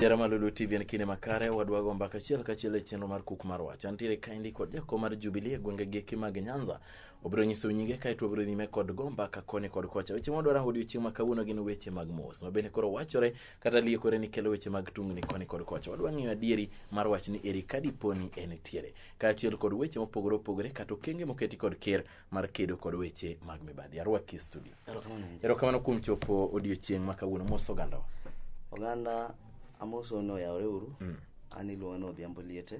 Jarama Lulu TV en kinde makare wadwago mbaka achiel kachiel e chenro mar kuk mar wach. Antiere kaendi kod jako mar Jubilee e gwenge geki mag Nyanza. Obiro nyiso nyinge kaeto obiro nyime kod go mbaka koni kod kocha. Weche mwadwa rango odiochieng' ma kawuono gin weche mag mos ma bende koro wachore kata liekore ni kelo weche mag tungni koni kod kocha. Wadwa ng'eyo adieri mar wach ni eri kadiponi en tiere. kaachiel kod weche mopogore opogore kata okenge moketi kod ker mar kedo kod weche mag mibadhi arwaki e studio Erokamano ahinya. erokamano kuom chopo odiochieng' ma kawuono mos ogandawa oganda amoso ni oyawore uru Mm. an iluonga ni odhiambo liete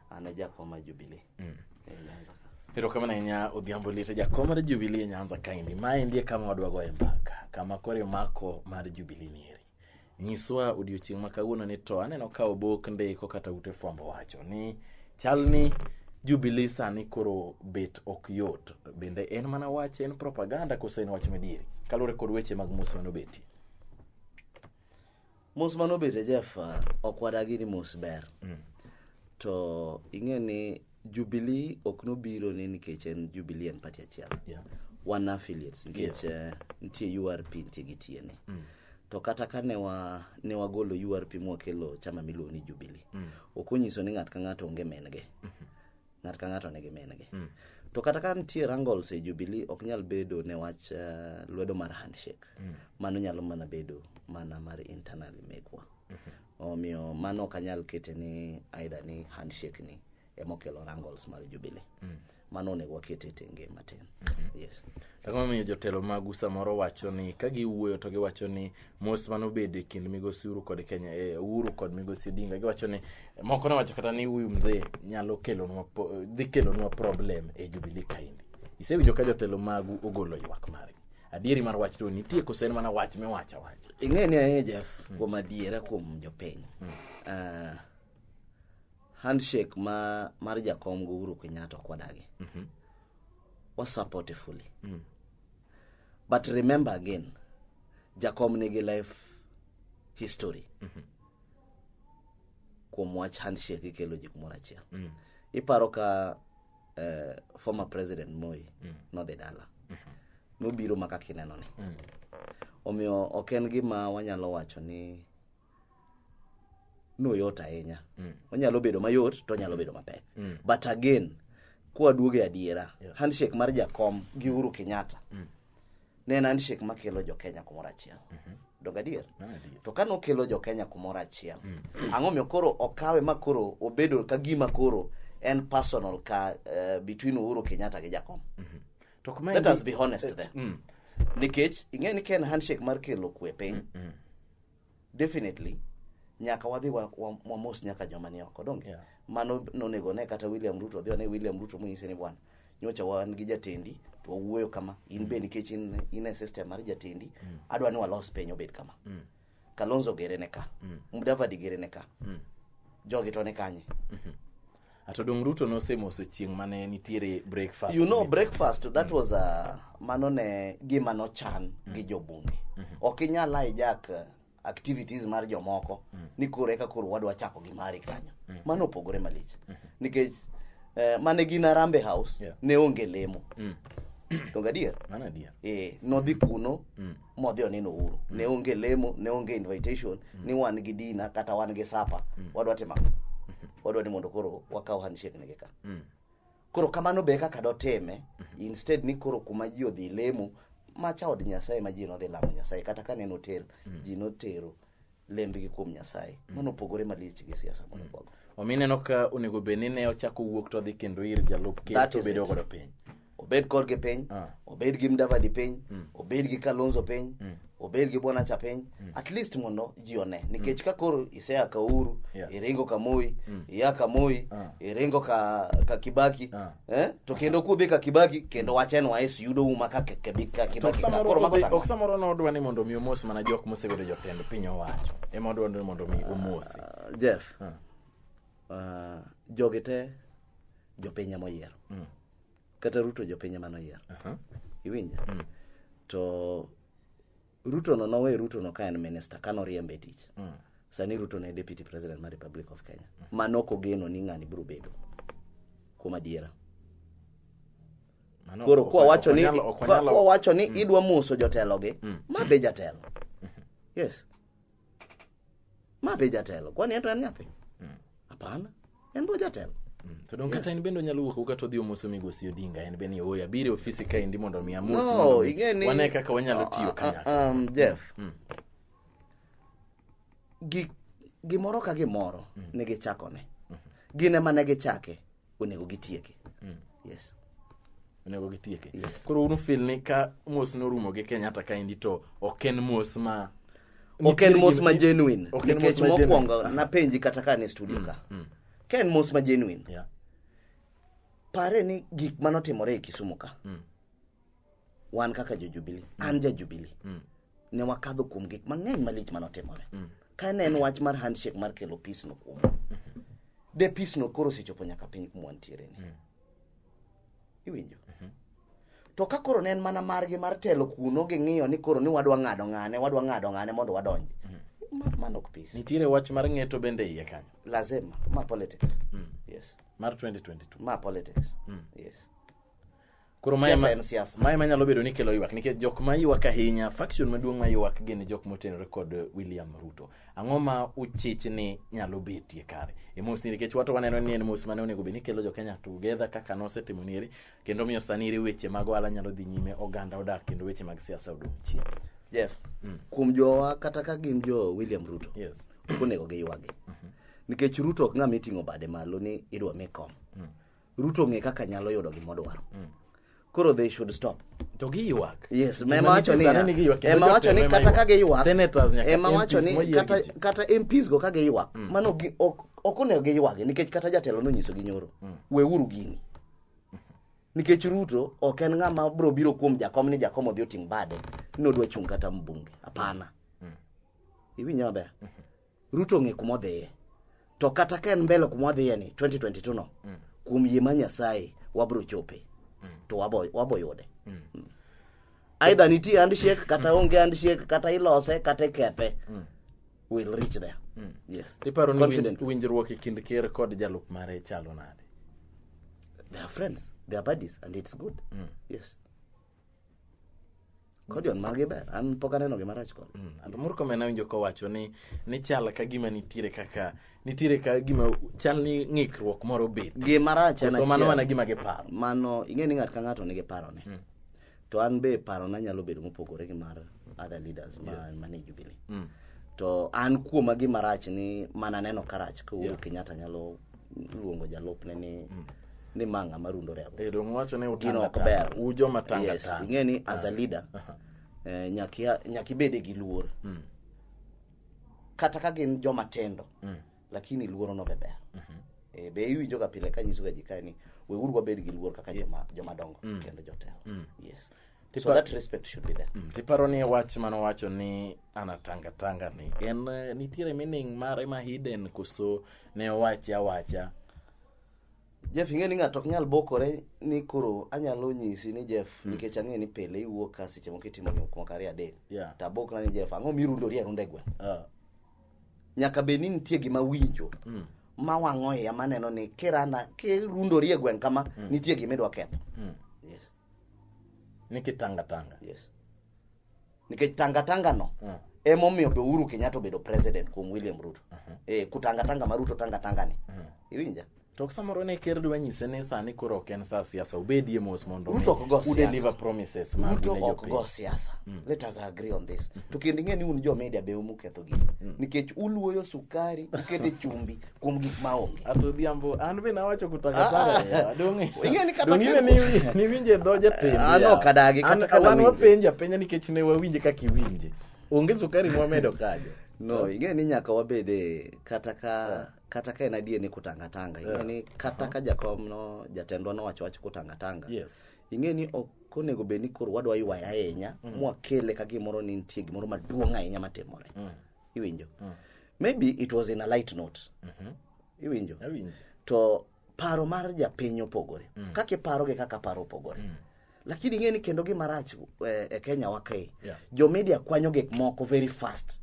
an e jakwa ma jubilee Mm. e nyanza ka erokamano ahinya odhiambo liete jakom mar jubilee nyanza kaendi maendi e kama wadwagoe mbaka kama koro imako mar jubilee nieri Nyiswa odiochieng' ma kawuono ni to aneno ka obok ndiko kata ute fwambo wacho ni chal ni Jubilee sani koro bet ok yot. Bende en mana wach en propaganda kose en wach madieri? Kaluwore kod weche mag mos mane obetie. Mos mane obetie Jeff, ok wadagi ni mos ber. To ing'e ni Jubilee ok nobiro ni nikech en Jubilee en party achiel. Yeah. Wan affiliates nikech eh, nitie URP nitie gi TNA. To kata ka ne wa ne wagolo URP mwakelo chama miluongo ni Jubilee. Ok onyiso ni ng'at ka ng'ato onge men'ge. Ng'at ka ng'ato nigi men'ge. To kata ka nitie wrangles e Jubilee ok nyal bedo ne wach eh, lwedo mar handshake. Mano nyalo mana bedo mana mar internal mekwa. Omiyo mano ok anyal kete ni aidha ni handshake ni emokelo wrangles mar Jubilee. Mm. Mano onego wakete e tenge matin. Mm -hmm. Yes. Ang'o momiyo jotelo magu samoro wacho ni ka giwuoyo to giwacho ni mos mane obedo e kind migosi Uhuru kod Kenya e Uhuru kod migosi Odinga giwacho ni moko ne wacho kata ni huyu mzee nyalo kelonwa dhi kelonwa problem e Jubilee kaendi. Isewinjo ka jotelo magu ogolo ywak margi? adieri mar wach to nitie kose en mana wach miwacho awacha ing'e ni ahinya jaf kuom adiera kuom jopiny Ah, handshake ma mar jakom gi uhuru kenyatta ok wadagi wasupporte fully but remember again jakom nigi life history kuom wach handshake ikelo ji kumoro achiel iparo ka uh, former president moi mm. nodhi dala mm -hmm. nobiro maka kineno ni mm. omiyo ok en gima wanyalo wacho ni noyot ahinya mm. onyalo bedo mayot to onyalo bedo mapek mm. but again kwaduogo e adiera yeah. handshake mar jakom gi uhuru kenyatta mm. ne en handshake makelo jokenya kumoro achiel donge adier Mano adier. to kane okelo jokenya kumoro achiel ang'o miyo koro okawe ma koro obedo ka gima koro en personal ka eh, between uhuru kenyatta gi jakom To kuma let endi- us be honest there Mm. nikech ing'e ni ka en handshake mar kelo kwe piny definitely nyaka wadhi wa- wa- wamos nyaka joma ni oko donge Yeah. mano nonego ne kata william ruto odhi one william ruto monyise ni bwana nyocha wan gi jatendi to wawuoyo kama in be nikech in, in e system mar jatendi adwa ni walos piny obed kama kalonzo gere ne ka mudavadi gere ne ka jogi to ne kanye to dong ruto nosemoso chieng' mane nitiere breakfast you know breakfast that mm. was a mano ne gima nochan mm. gi jobunge mm -hmm. ok inyal hijack uh, activities mar jomoko mm. ni koro eka koro wadwa chako gi mari kanyo mm. mano opogore malich mm -hmm. nikech eh, mane gin arambe house yeah. ne onge lemo mm. to gadier mano adier eh nodhi kuno mm. modhi oneno uru ne onge lemo ne onge invitation ni wan gi dina kata wan gi sapa wadwa timo ang'o? wadwa ni mondo koro wakaw handshake nigi ka koro kamano be kaka dotime instead ni koro kuma ji odhi lemo macha od nyasaye ma ji nodhi lamo nyasaye kata ka neno hotel ji notero lembgi kuom nyasaye mano opogore malich gi siasa mondo kwago omiyo ineno ka onego bed ni ne ochako wuok to dhi kendo ir jalup ker That to is bedo it. godo piny obed korgi piny Ah. obed gi mdavadi piny obed gi kalonzo piny obed gi bwanacha piny at least mondo ji one nikech ka koro isea ka uhuru Yeah. iringo ka moi iya ka moi Ah. iringo ka, ka kibaki Ah. Eh? To kendo kudhi ka Kibaki kendo wachen wa es yudo uma ka ke- ke- ka To Kibaki. ka. Koro mago samoro tang'o. ok samoro nodwa ni mondo mi omos mana jok mosebedo jotend piny owacho ema odwa ni mondo mi omosi Jeff. Ah. ah, jogi te jopiny ema oyiero. Mm. Kata Ruto jopiny ema noyiero. Aha. Iwinja? To Ruto no nowe Ruto no ka en minister ka noriembe e tich. Mm. Sani Ruto ne deputy president mar Republic of Kenya. Mm. Ma nok ogeno ni ng'ani biro bedo. Kuom adiera. Mano, Koro kwa wacho ni kwa wacho ni mm. idwa muso jotelo gi, mm. ma be jatelo. Mm-hmm. Yes. ma be jatelo kwani ento en nyathi hapana en bo jatelo To donge kata in bende onyalo wuok oko kata odhi omoso migosi Odinga en bende ni oya bire ofisi ka endi mondo mi amosi. mondo no mi ing'e ni Wane kaka wanyalo tiyo Ah, ah, kanyakla. um, jeff Mm. gi- gimoro ka gimoro ne gichakone gin ema ne gichake onego gitieke mm. yes onego gitieke yes. koro unu fil ni ka mos norumo gi kenyatta kaendi to ok en mos ma ok en mos ma genuine nikech mokwongo napenji kata ka ne studio mm, ka mm. ka en mos ma genuine yeah. pare ni gik manotimore e kisumu ka mm. wan kaka jojubili mm. an jajubili mm. ne wakadho kuom gik mang'eny malich manotimore mm. ka ne en wach mar handshake mar kelo peace no kuom mm-hmm. de peace no koro osechopo nyaka piny kuma wantiere ni mm. iwinjo mm-hmm. to ka koro ne en mana margi mar telo kuno ging'iyo ni koro ni wadwa ng'ado ng'ane wadwa ng'ado ng'ane mondo wadonji mm-hmm. mano ok peace nitiere wach mar ng'eto bende iye kanyo lazima ma politics mm. yes mar 2022 ma politics mm. yes Koro mae ma, en siasa. Mae ma nyalo bedo ni kelo ywak nikech jok ma ywak ahinya, faction maduong' ma ywak gin jok motenore kod William Ruto. Ang'o ma uchich ni nyalo betie kare? E mos ni nikech wato waneno ni en mos mane onego bed ni kelo jokenya together kaka nosetimo nieri kendo miyo sani iri weche mag ohala nyalo dhi nyime oganda odak kendo weche mag siasa odong' chien. Jeff, mm. kuom jowa kata ka gin jo William Ruto. Yes. Onego giywagi. Mm -hmm. Nikech Ruto ok ng'ama iting'o bade malo ni idwa mi kom. Mm. ruto ong'e kaka nyalo yudo gima odwaro koro they should stop to giywak yes Gima ema wacho nitie sani ni ni giywak, kendo ema wacho ni jotelo ema kata ka giywak Senators nyaka ema MPs wacho ni moyier kata gi ji. kata MPs go ka giywak mano gi- ok ok onego giywagi nikech kata jatelo nonyiso gi nyoro weuru gini nikech Ruto ok en ng'ama bro biro kuom jakom ni jakom odhi oting bade ni odwa chung' kata mbunge hapana iwinja maber Ruto ong'e kuma odhiye. To kata ka en mbele kuma wadhiye ni 2022 no, mm. kuom yie ma Nyasaye wabro chope. Mm. To wabo wabo yude. Mm. mm. Aidha nitie handshake kata mm. onge handshake kata ilose kata ikethe. Mm. We'll reach there. Mm. Yes. Iparo ni winjruok e kind ker kod jalup mare chalo nade? They are friends, they are buddies and it's good. Mm. Yes. Kodion magi ber. An pok aneno gima rach kode. And Murkomen awinjo kowacho ni ni chal ka gima nitiere kaka nitiere ka gima chal ni ng'ikruok moro bet. Gima rach en Koso mano achiel. mana gima giparo. Mano ing'e ni ng'at ka ng'ato nigi parone. To an be parona nyalo bedo mopogore gi mar other leaders ma mane Jubilee. Mm. To an kuoma gima rach ni mana neno ka rach ka Uhuru Kenyatta nyalo luongo jalupne ni ni ma ng'ama rundore ago Eh, dong' wacho ni gino utanga ok tanga. ber U joma tanga Yes, tanga. ing'e ni as a leader Aha. eh, nyaka ia- nyaka ibede gi luor Mm. kata ka gin joma tindo Mm. lakini luoro no be ber Mhm. Eh, be iwinjoga pile ka nyisoga ji kae ni weuru wabed gi luor kaka joma joma dongo Mm. kendo jotelo Mm. yes Tipo- so that respect should be there Mm, tiparo ni wach mane owacho ni anatanga tanga ni en eh, nitiere meaning mare ma hidden koso ne owache awacha Jeff ing'e ni ng'ato ok nyal bokore ni koro anyalo nyisi ni Jeff hmm. nikech ang'e ni pile iwuok ka seche moko itimo ni kuom kare adek yeah. to abokna ni Jeff ang'o mirundori arunda e gweng' uh. nyaka bed ni nitie gima winjo mm. ma wang'o iya maneno ni kirana kirundori e gweng' kama mm. nitie gima idwa ketho mm. yes. ni kitanga tanga yes. nikech tangatanga no Mm. emomiyo be uhuru kenyatta obedo president kuom william ruto eh, kutangatanga ma ruto tangatanga ni iwinja To samoro ne ker dwa nyise ni sani koro ok en sa siasa obedie mos mondo Ruto ok go u deliver siasa. promises ma ruto ne ok jopiny. go siasa let us agree on this to kendo ing'e ni un jo media be umuketho gini nikech uluoyo sukari ukete chumbi kuom gik maonge Ato Odhiambo, an be nawacho kutakataka. Donge? Ing'e ni kata Donge ka- ni wi- ni winje dho jatend. Ah, no, kadagi, kata ka Wan nawinje. wapenja penja nikech ne wawinje kaka iwinje. Onge sukari mwamedo kajo. no ing'e ni nyaka wabede kata ka kata ka en adier ni kutangatanga ing'e ni kata ka jakom no jatendwa nowacho wach kutangatanga Yes. ing'e ni ok onego bed ni koro wadwa ywaya ahinya mwakele ka gimoro ni nitie gimoro maduong' ahinya matimore iwinjo maybe it was in a light note iwinjo Awinjo. to paro mar japiny opogore kaka iparo gi kaka paro opogore lakini ing'e ni kendo gima rach eh, e kenya wa kae Yeah. jo media kwanyo gik moko very fast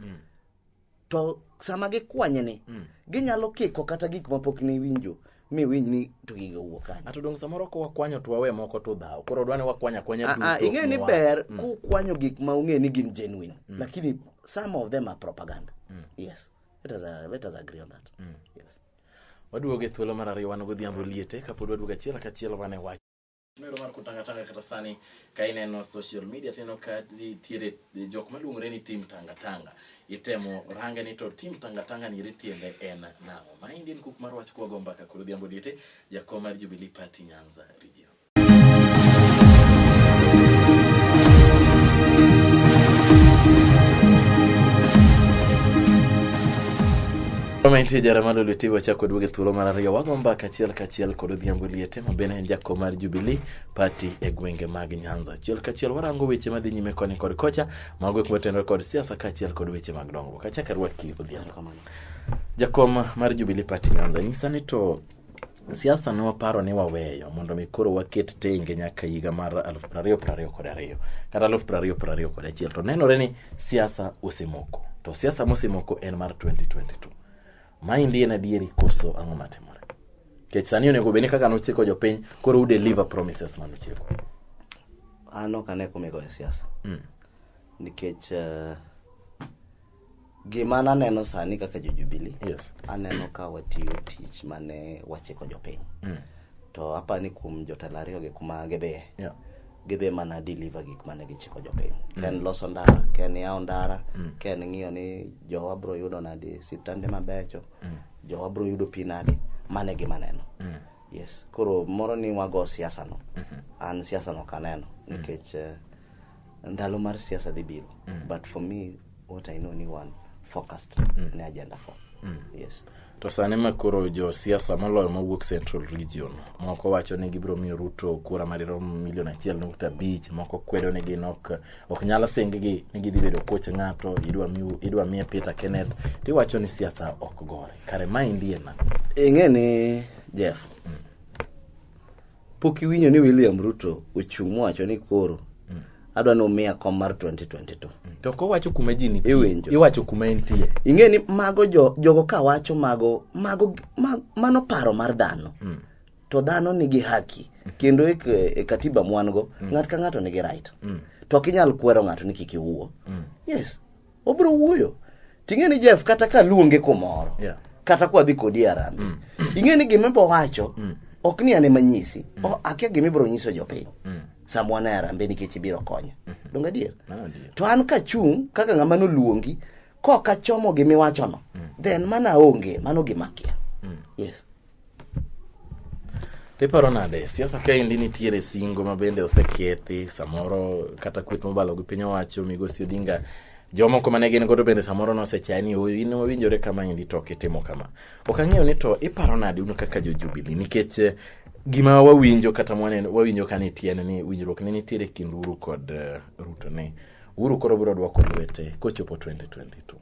to sama gikwanyeni ginyalo kiko kata gik mapok niwinjo mi winj ni to gigo wuok kanye ato dong samoro ko wakwanyo to wawe moko to dhaw koro dwa ni wakwanya kwanya Ah, ah, duto ing'e ni mwa- ber Mm. kukwanyo gik ma ung'e ni gin genuine Mm. lakini some of them are propaganda Mm. yes let us, uh, let us agree on that Mm. yes waduogo e thuolo mar ariyo wan godhiambo liete kapod waduogo achiel kachiel wan e wach Mero mar kutangatanga kata sani ka ineno social media tineno ka nitiere jok maluongore ni tim tangatanga itemo range ni to tim tangatanga ni ritiende en nang'o ma Indian cook mar wach kwa gomba ka koro dhiambo diete jakom mar Jubilee Party Nyanza region Kama intie jara malo litiwa chako duoge thuolo mar ariyo wago mbaka achiel kachiel kod odhiambo liete ma bende en jakom mar Jubilee Party e gwenge mag Nyanza. Achiel kachiel warango weche madhi nyime koni kod kocha, mago gik motenore kod siasa kaachiel kod weche mag dongruok. Achak arwaki Odhiambo. Jakom mar Jubilee Party Nyanza, nyisa ni to siasa ne waparo ni waweyo mondo mi koro waket tenge nyaka higa mar aluf piero ariyo piero ariyo kod ariyo kata aluf piero ariyo piero ariyo kod achiel to nenore ni siasa osemoko to siasa mosemoko en mar 2022 maendi en adieri koso ang'o matimore nikech sani onego bed ni kaka nochiko jopiny koro u deliver promises mane uchiko an ok ane kumigo e siasa mm. nikech uh, gima naneno sani kaka jojubili yes. aneno ka watiyo tich mane wachiko jopiny mm. to apa ni kuom jotelo ariyogi kuma gidhiye yeah. gidhi mana deliver gik mane gichiko jopiny mm. ken loso ndara ken yawo ndara mm. ken ng'iyo ni jowa bro yudo nadi siptande mabecho mm. jowa bro yudo pi nade mano e gima neno mm. yes koro moro ni wago siasa no mm -hmm. an siasa no kaneno mm. nikech eh, ndalo mar siasa dhi biro mm. but for me what i know ni one focused mm. ne agenda for mm. yes to sani ma koro josiasa moloyo mawuok central region moko wacho ni gibiro miyo ruto kura madirom milion achiel nukta abich moko kwedo ni gin ok ok nyal singgi ni gidhi bedo koch ng'ato idwa miu- idwa miye peter kenneth tiwacho ni siasa ok gore kare ma indie na ing'e ni jeff pok iwinjo ni william ruto ochung' mowacho ni koro adwa ni umiya kom mar 2022 to kowacho kuma ji nitie Iwinjo. iwacho kuma entie ing'e ni mago jo, jogo ka wacho mago mago ma, mano paro mar dhano mm. to dhano nigi haki kendo e, e katiba mwango mm. ng'at ka ng'ato nigi right mm. to ok inyal kwero ng'ato ni kik iwuo mm. yes obiro wuoyo ting'e ni jeff kata ka luonge kumoro yeah. kata kwa dhi kodi arambe mm. ing'e ni gima ibo wacho mm. ok ni ane manyisi mm. akia gima ibiro nyiso jopiny mm. samwana e arambe nikech ibiro konya mm -hmm. donge adier to an kachung' kaka ng'ama noluongi koka chomo gimiwachono mm. then mana onge mano gimakia mm. yes Tiparo nade, siasa kaendi nitiere singo ma bende osekethi samoro kata kweth mobalo gi piny owacho migosi Odinga jomoko mane gin godo bende samoro nosechaye ni oyo in owinjore kama endi to ok itimo kama. Ok ang'eyo ni to iparo nade un kaka jo Jubilee nikech eh, gima wawinjo kata mwaneno wawinjo ka nitie en ni winjruok ne nitiere e kind Uhuru kod eh, Ruto ni Uhuru koro biro dwoko lwete kochopo 2022.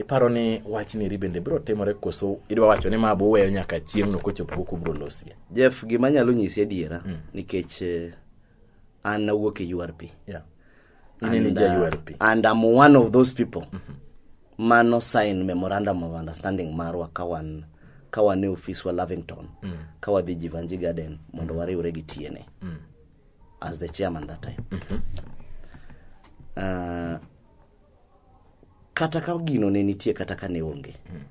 Iparo ni wach niri bende biro timore koso idwa wacho ni ma buweyo nyaka chieng'no kochopo koko biro losie? Jeff, gima anyalo nyisi adiera mm. nikech eh, an awuok e URP. Yeah. And, uh, URP. and I'm one of those people mm -hmm. mano sign memorandum of understanding marwa kawan kawan e ofis wa Lavington mm. kawadhi Jivanji Garden mondo wariwre gi tiene mm. as the chairman that time. Mm -hmm. uh, kata ka gino ne nitie kata ka ne onge mm.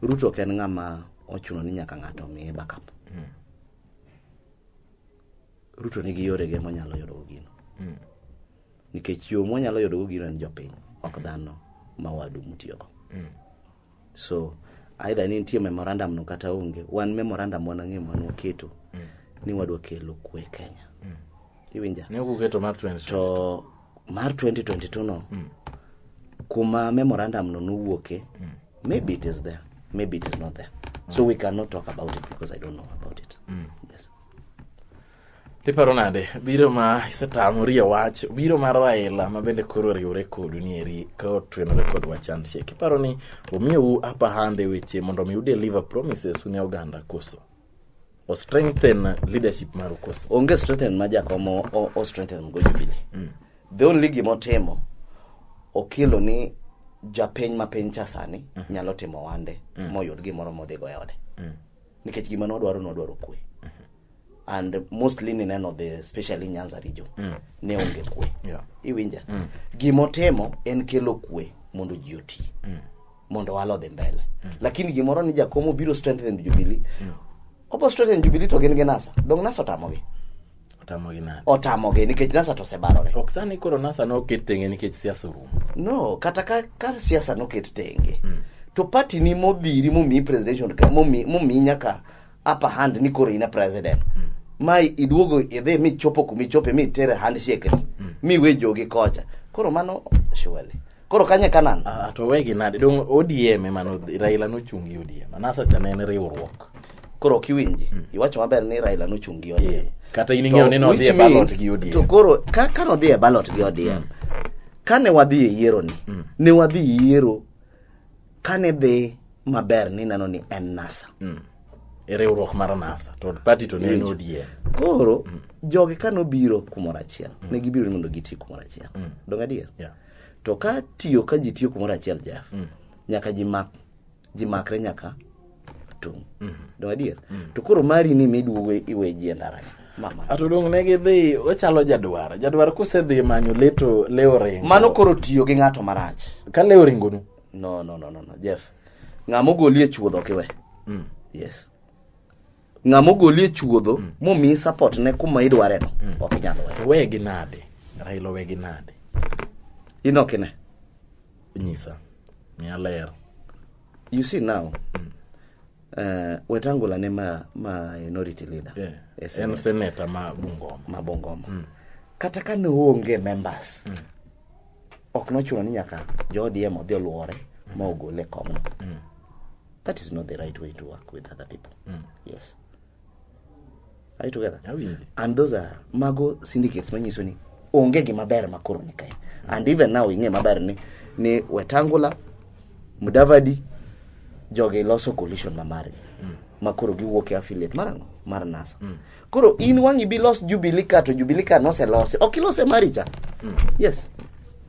ruto ok en ng'ama ochuno ni nyaka ng'ato omiye backup mm. ruto nigi yorege monyalo yudogo gino mm. nikech yo mwanyalo yudogo gino en jopiny ok dhano ma wadu mutiyogo mm. so aidha ni nitie memorandum no kata onge wan memorandum wan ang'e mwan waketo mm. ni wadwa kelo kwe kenya mm. iwinja ne kuketo mar 2022 to mar 2022 no mm. kuma memorandum no nowuoke mm. maybe it is there maybe it is not there mm. so we cannot talk about it because i don't know about it mm. yes tiparo nade biro ma isetamori e wach biro mar raila ma bende koro oriwore kodu ni eri ka otwenore kod wach handshake iparo ni omiyou upper hand e weche mondo mi udeliver promises une oganda koso o strengthen leadership maru koso onge strengthen ma jakom o- o- o strengthen go jubilee the only gimotimo okelo ni japiny ma piny cha sani nyalo timo wande moyud gimoro modhigo e ode nikech gima nodwaro nodwaro kwe and mostly nineno the especially nyanza region mm. ne onge kwe Yeah. iwinja mm. gimotimo en kelo kwe mondo ji oti mm. mondo walodhi mbele mm. lakini gimoro ni jakomo biro strengthen jubilee mm. obo strengthen jubilee to gin gi nasa dong nasa otamogi otamogi nade otamogi nikech nasa to osebarore ok sani koro nasa ne oket tenge nikech siasa orumo no kata ka, ka siasa noket tenge mm. to party ni modhiri momiyi presidential ka- momi- momiyi nyaka upper hand ni koro in a president ma iduogo idhi michopo kumichope mitere handshake ni miwe jogi kocha koro mano surely koro kanye kanan Ah, to wegi nade dong odm emano raila nochung gi odm anasacha ne en riwruok koro ok iwinji iwacho maber ni raila nochung gi odm kata in ing'eyo ni To nodhi e which ballot means- gi odm to koro ka ka nodhi e ballot gi odm kane wadhi e yieroni ne wadhi yiero kane dhi maber nineno ni en nasa mm. e riwruok mar nasa to pati to ne en odie koro mm. jogi ka nobiro kumoro achiel mm. ne gibiro ni mondo giti kumoro achiel mm. dong adier yeah. to ka tiyo ka ji tiyo kumoro achiel jef mm. nyaka ji mak ji makre nyaka tung mm -hmm. dong adier mm. to koro mari ni miduogo iwe ji e ndaranya atudong ne gidhi ochalo jadwar jadwar kusedhi manyo leto leo ringo mano koro tiyo gi ng'ato marach ka leo ringonu no no no no no jeff ng'ama ogoli e chuodho ok iwe mm. yes ng'ama ogoli e chuodho mm. momiyi support ne kuma idware no mm. ok inyal we to wegi nade raila wegi nade in ok ine nyisa miya ler you see now mm. uh, wetangula ne ma, ma minority leader yeah. en seneta ma bungoma ma bungoma mm. kata ka ne oonge members mm. ok nochuno ni nyaka jo ODM odhi oluore ma ogole kong'o. That is not the right way to work with other people. Yes. Are you together? Awinji. And those are mago syndicates manyiso ni onge gima ber ma koro ni kae. And even now ing'e maber ni ni Wetangula, Mudavadi, jogi loso coalition ma margi. Ma koro giwuok e affiliate mar ang'o? Mar NASA. Koro in wang'i bilos Jubilee ka to Jubilee ka noselosi. Ok ilose mari cha. Mm. Yes.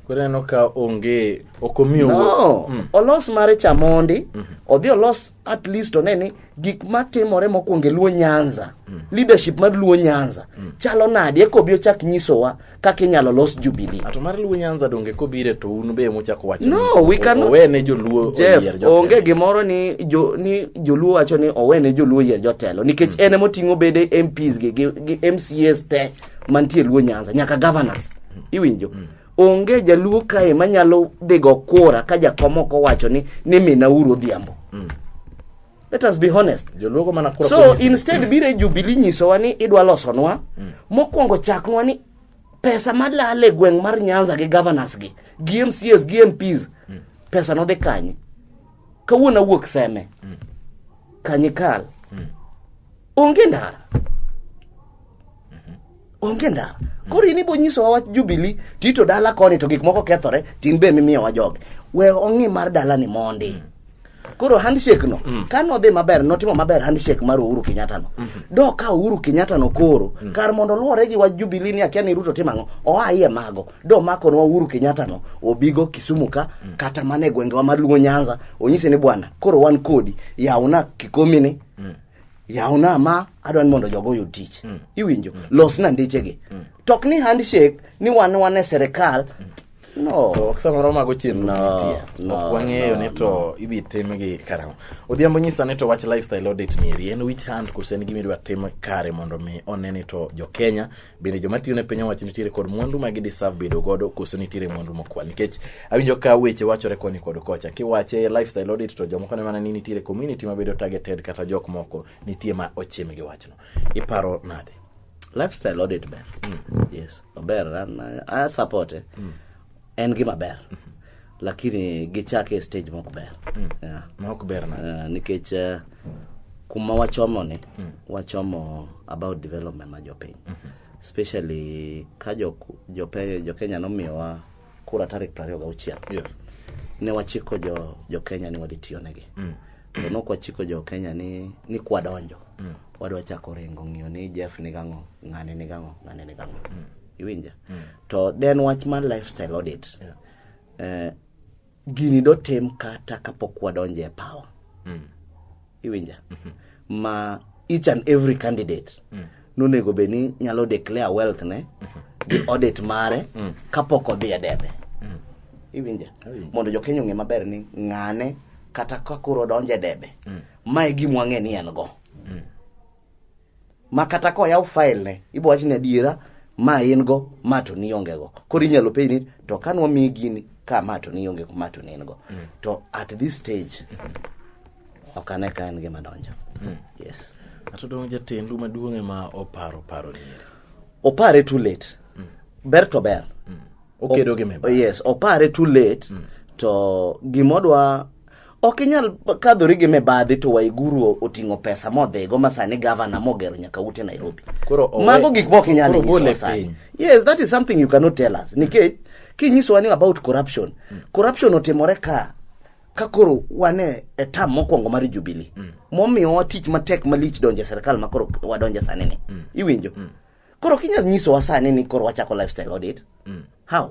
Koro aneno ka onge ok omiyo no. mm. olos mare cha mondi mm -hmm. odhi olos at least one ni gik matimore mokwongo e Luo Nyanza mm. leadership mar Luo Nyanza mm. chalo nadi eko obi ochak nyisowa kaka inyalo los jubilee. To mar Luo Nyanza donge kobire to un be muchako wacho. No, we can owe ne joluo Jeff, oyier jotelo. Onge gimoro ni jo ni joluo wacho ni owe ne joluo oyier jotelo nikech mm. en emoting'o bede MPs gi, gi, gi MCAs te mantie Luo Nyanza nyaka governors. Mm. Iwinjo? Mm. Onge jaluo kae manyalo dhigo kura ka jakom ok owacho ni ni mina uru odhiambo. Mm. Let us be honest. Joluogo mana kura So kuom instead biro e Jubilee nyisowa ni idwa losonwa, mokwongo chaknwa ni pesa malal e gweng' mar Nyanza gi governors gi, gi MCAs gi MPs, pesa nodhi kanye? Kawuono awuok Seme, Kanyikal, onge ndara. onge ndara koro in ibo nyisowa wach jubili tito dala koni to gik moko kethore tin be mimiyowa joge we ong'i mar dalani mondi koro handshake no mm. ka nodhi maber notimo maber handshake mar uhuru kenyatta no mm -hmm. do ka uhuru kenyatta no koro mm. kar mondo luwore gi wach jubilee ni akia ni ruto timo ang'o oa iye mago do makonwa uhuru kenyatta no obigo kisumu ka mm. kata mana e gwengewa mar luo nyanza onyise ni bwana koro wan kodi yawna kikomini mm. yawna ma adwa ni mondo jogo oyud tich mm. iwinjo mm. losna ndichegi mm. tok ni handshake ni wan wan e serikal mm. No. To samoro mago chenro no, no, ok wang'eyo no, ni to no. ibi timgi karang'o. Odhiambo nyisa ni to wach lifestyle audit ni eri en which hand koso en gima idwa tim kare mondo mi one ni to jo Kenya bende joma tiyo ne piny owacho nitiere kod mwandu ma gideserve bedo godo koso nitiere mwandu mokwal nikech awinjo ka weche wachore koni kod kocha kiwache lifestyle audit to jomoko ne mana ni nitiere community mabedo targeted kata jok moko nitie ma ochim gi wachno iparo nade lifestyle audit ber mm. yes ober a support eh. mm. en gima ber mm -hmm. lakini gichake e stage mok ber mm. yeah. mok ber na uh, nikech uh, kuma wachomo ni mm. wachomo about development ma jopiny mm -hmm. especially ka jokenya jo, jo nomiyowa kura tarik piero ariyo gauchiel Yes. ne wachiko jo jo Kenya ni wadhi tiyo negi to nok wachiko jo Kenya ni ni kwadonjo wadwa chako ringo ng'iyo ni Jeff ni gang'o ng'ane ni gang'o ng'ane ni gang'o iwinja to den wach mar lifestyle audit eh, gini dotim kata kapok wadonje e pawa mm. iwinja mm -hmm. ma each and every candidate mm. nonego bed ni nyalo declare wealth ne mm -hmm. gi audit mare mm. kapok odhi e debe mm. iwinja mondo jokenya ong'e maber ni ng'ane kata kakoro odonje debe mm. ma e gimwang'e ni en go mm. ma kata koyaw file ne ibo wach ni adiera ma in go ma to nionge go koro inyalo penj ni to ka nwamiyi gini ka ma to nionge go ma to ne in go mm. to at this stage ok ane ka en gima donjo mm. yes ato dong' jatendu maduong' ema oparo paro nieri opare too late mm. ber to ber mm. okedo gi mibadhi yes opare too late mm. to gimodwa Ok inyal kadhori gi mibadhi to Waiguru oting'o pesa modhigo ma sani gavana mogero nyaka ute Nairobi. Koro owe- Mago gik mok inyal koro nyisowa gole sani. piny. Yes, that is something you cannot tell us. Nikech kinyisowa ni about corruption. Corruption otimore ka ka koro wan e e tam mokwongo mar Jubilee. Momiyowa tich matek malich donjo e sirkal ma koro wadonjo sani ni. Iwinjo? Koro kinyal nyisowa sani ni koro wachako lifestyle audit. How?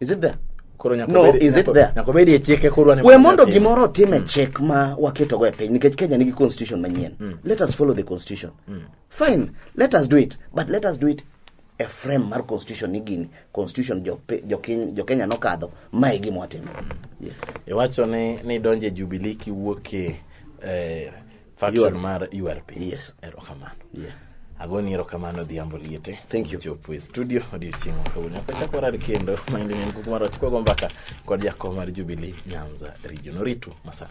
Is it there? Koro no, is it there? Nyakobedi e chike koro ne. We mondo gimoro time mm. chik ma waketo go e piny nikech Kenya nigi constitution manyien. Mm. Let us follow the constitution. Mm. Fine, let us do it, but let us do it e frame mar constitution ni gini constitution jo, jo, jo Kenya nokadho mae gima watimo. Yes. Iwacho ni ni donje Jubilee kiwuok e eh, faction Yor- mar urp Yes. erokamano Yeah. agoni erokamano odhiambo liete Thank you. chopo e studio odiochieng' makawuono akachako warad kendo maende nyen kuku mar wachkwago mbaka kod jakom mar jubilee nyanza region oritu masani